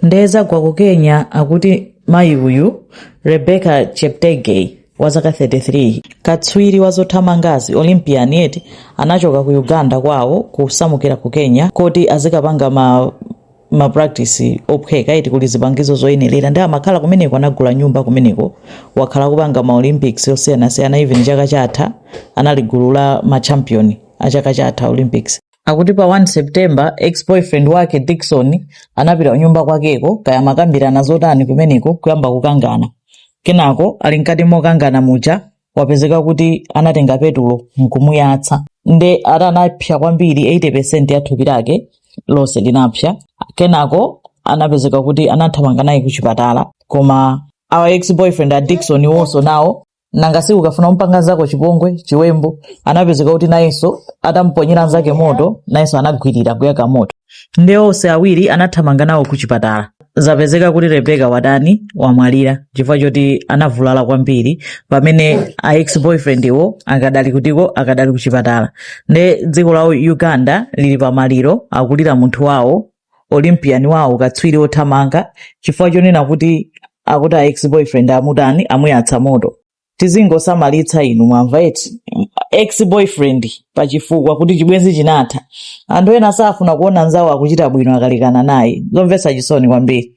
nde zagwa ku kenya akuti mayi uyu rebecca cheptegei wa zaka 33 katswiri wa zothamangazi olympian eti anachoka ku uganda kwawo kusamukira ku kenya koti azikapanga mapractice ophweka eti kuli zipangizo zoyenerera nde amakhala kumeneko anagula nyumba kumeneko wakhala akupanga ma olympics osiyanasiyana even chaka chatha anali gulu la machampion a chaka chatha olympics akuti pa 1 september ex boyfriend wake dickson anapita kunyumba kwakeko kaya amakambirana zotani kumeneko kuyamba kukangana kenako ali mkati mokangana muja wapezeka kuti anatenga petulo nkumuyatsa nde ati anapsa kwambiri 80 ya thupi lake lonse linapsa kenako anapezeka kuti anathamanga naye kuchipatala koma a ex boyfriend a dickson iwonso nawo nanga si ukafuna kumpanga nzako chipongwe chiwembu anapezeka kuti nayenso atamponyera nzake moto nayenso anagwirira kuyaka moto nde onse awiri anathamanga nawo ku chipatala zapezeka kuti rebecca watani wamwalira chifukwa choti anavulala kwambiri pamene a ex boyfriend wo akadali kutiko akadali ku chipatala nde dziko la uganda lili pamaliro akulira munthu wawo Olympian wawo katswiri wothamanga chifukwa chonena kuti akuti a ex boyfriend amutani amuyatsa moto tizingosamalitsa inu mwamva eti ex boyfriend pa chifukwa kuti chibwenzi chinatha anthu ena safuna kuona nzawo akuchita bwino akalekana naye zomvetsa chisoni kwambiri